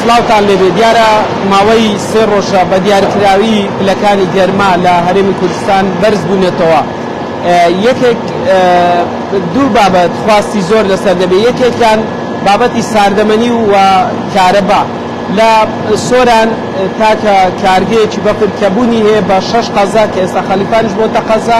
سڵاوتان لێبێ دیارە ماوەی سێ ڕۆژە بە دیارکراوی پلەکانی گەرما لە هەرێمی کوردستان بەرز بوونەتەوە یەکێک دوو بابەت خواستی زۆر لەسەر دەبێت یەکێکیان بابەتی ساردەمەنی و کارەبا لە سۆران تاکە کارگەیەکی بەفر کەبوونی هەیە بە شەش قەزا کە ئێستا خەلیفانش بۆتە قەزا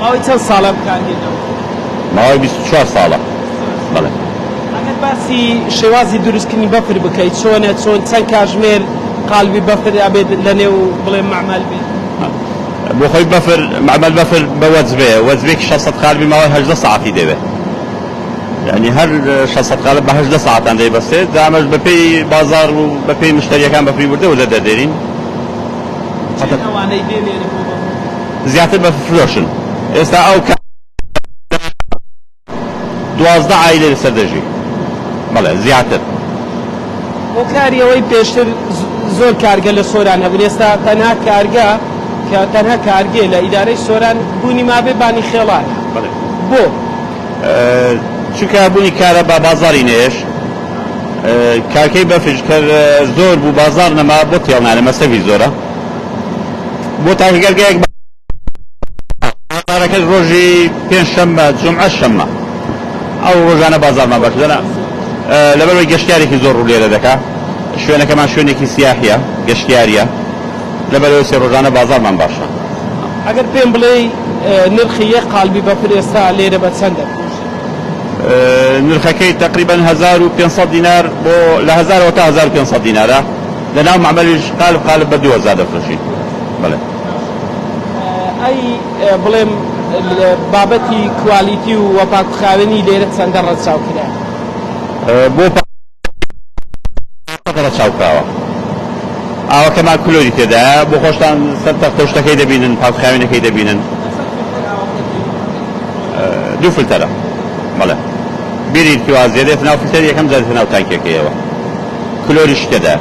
ماوەی چەند ساڵە بکاردێتەوە؟ ماوەی بیست و چوار ساڵە بەڵێ. ئەگەر باسی شێوازی دروستکردنی بەفر بکەی چۆنە چۆن چەند کاژمێر قالبی بەفر ئەبێت لەنێو بڵێ مەعمەل بێ؟ بۆ خۆی بەفر مەعمەل بەفر بە وەجبەیە وەجبەیەکی شەش سەد قالبی ماوەی هەژدە سەعاتی دەوێت یانی هەر شەش سەد قالب بە هەژدە سەعاتان دەیبەستێت جا ئەمەش بەپێی بازاڕ و بەپێی مشتەریەکان بەفری وردە وردە دەردێرین. چەند ئەوانەی دێنێرن بۆ بەفر؟ زیاتر بە فرۆشن ئێستا ئەو کاتەی لەوانەیە دوازدە عایلە لەسەر دەژی بەڵێ زیاتر. هۆکاری ئەوەی پێشتر زۆر کارگە لە سۆران هەبن ئێستا تەنها کارگە کە تەنها کارگێ لە ئیدارەی سۆران بوونی مابێ بانی خێڵانە بەڵێ بۆ؟ چونکە بوونی کارە با بازاری نەیەش کارکەی بەفرش کەر زۆر بوو بازار نەما بۆ تێڵ نانە مەسەفی زۆرە. بۆ تاکگەرگەیەک بە بازارەکەش ڕۆژی پێنج شەممە جمعە شەممە ئەو ڕۆژانە بازارمان باش دەنا لەبەرەوەی گەشتارێکی زۆر ڕوو لێرە دەکا شوێنەکەمان شوێنێکی سیاحە گەشتیاریە لەبەرەوەی سێ ڕۆژانە بازارمان باشە ئەگەر پێم بڵێ نرخی یە قالبی بە پرێستا لێرە بە چەندە نرخەکەی تقریبا 1500 دینار بۆ لە 1000 تا 1500 دینارە لە ناو مەعمەریش قالب قالب بە دوو هەزار دەفرۆشی بەڵێ. ئەی بڵێم بابەتی کوالیتی و وەپاکوخاوێنی لێرە چەندە ڕەچاو کرا؟ بۆ پاکوخاوێنی پاکەت ڕەچاو کراوە ئاوەکەمان کلۆری تێدایە بۆ خۆشتان سەر تەختە و شتەکەی دەبینن پاکوخاوێنەکەی دەبینن. دوو فلتەرە بەڵێ. بیری تیوا زێدێت ناو فلتەر یەکەم زادێتە ناو تانکیەکەیەوە. کلۆری شکەدا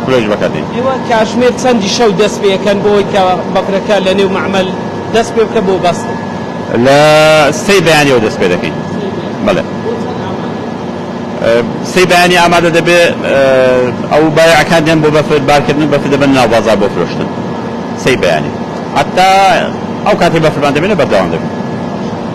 کلۆریش بەکاردێنین. ئێوە کاژمێر چەندی شەو دەست پێ ئەکەن بۆ ئەوەی کە بەکرەکە لە نێو مەعمەل دەست پێ بکە بۆ بەستن؟ لە سێی بەیانیەوە دەست پێ دەکەین بەڵێ. بۆ چەند ئامادە؟ سێی بەیانی ئامادە دەبێ ئەو بایەعەکان دێن بۆ بەفر بار کردن و بەفر دەبەنە ناو بازاڕ بۆ فرۆشتن سێی بەیانی هەتا ئەو کاتەی بەفرمان دەبینێ بەردەوام دەبین.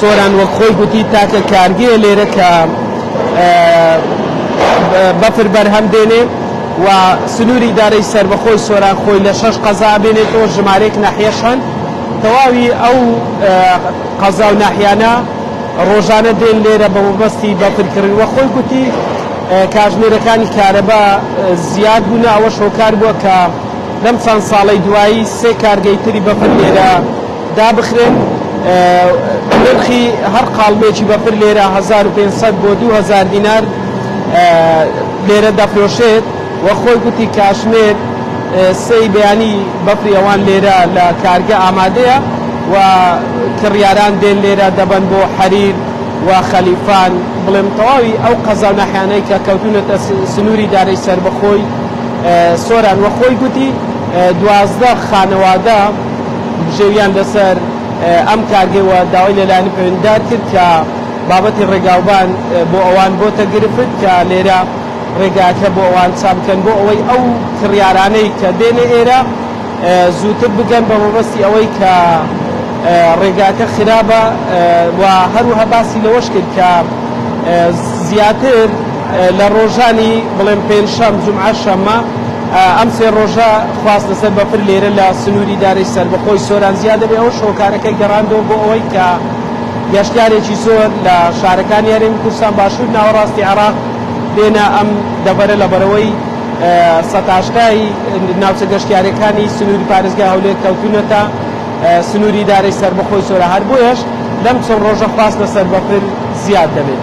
سۆران وەک خۆی گوتی، تاکە کارگەیە لێرە کە بەفر بەرهەم دێنێ و سنووری ئیدارەی سەربەخۆی سۆران خۆی لە شەش قەزا ئەبێنێتەوە، ژمارەیەک ناحیەش هەن. تەواوی ئەو قەزا و ناحیانە ڕۆژانە دێن لێرە بە مەبەستی بەفر کڕین. وەک خۆی گوتی، کاتژمێرەکانی کارەبا زیاد بوونە، ئەوەش هۆکار بووە کە لەم چەند ساڵەی دوایی سێ کارگەی تری بەفر لێرە دابخرێن نرخی هەر قاڵبێکی بەفر لێرە هەزار و پێنج سەد بۆ دوو هەزار دینار لێرە دەفرۆشێت و خۆی گوتی کاتژمێر سێی بەیانی بەفری ئەوان لێرە لە کارگە ئامادەیە و کڕیاران دێن لێرە دەبەن بۆ حەریر و خەلیفان بڵێم تەواوی ئەو قەزا و ناحیانەی کە کەوتونەتە سنووری دارەی سەربەخۆی سۆران و خۆی گوتی دوازدە خانەوادە بژێوییان لەسەر ئەم کارگەی و داوای لەلایەنی پەیوەندیدار کرد کە بابەتی ڕێگاوبان بۆ ئەوان بۆتە گرفت کە لێرە ڕێگاکە بۆ ئەوان چا بکەن بۆ ئەوەی ئەو کڕیارانەی کە دێنە ئێرە زووتر بگەن بە مەبەستی ئەوەی کە ڕێگاکە خراپە و هەروەها باسی لەوەش کرد کە زیاتر لە ڕۆژانی بڵێن پێنجشەم، جومعە، شەممە ئەم سێ ڕۆژە خواست لەسەر بەفر لێرە لە سنووری دارەی سەربەخۆی سۆران زیا دەبێت، ئەوەش هۆکارەکەی گەڕاندەوە بۆ ئەوەی کە گەشتیارێکی زۆر لە شارەکانی هەرێمی کوردستان باشوور ناوەڕاستی عێراق بێنە ئەم دەڤەرە لە بەرەوەی سەد هەشتای ناوچە گەشتیارەکانی سنووری پارێزگای هەولێر کەوتوونەتە سنووری دارەی سەربەخۆی سۆران هەر بۆیەش لەم چەند ڕۆژە خواست لەسەر بەفر زیاد دەبێت.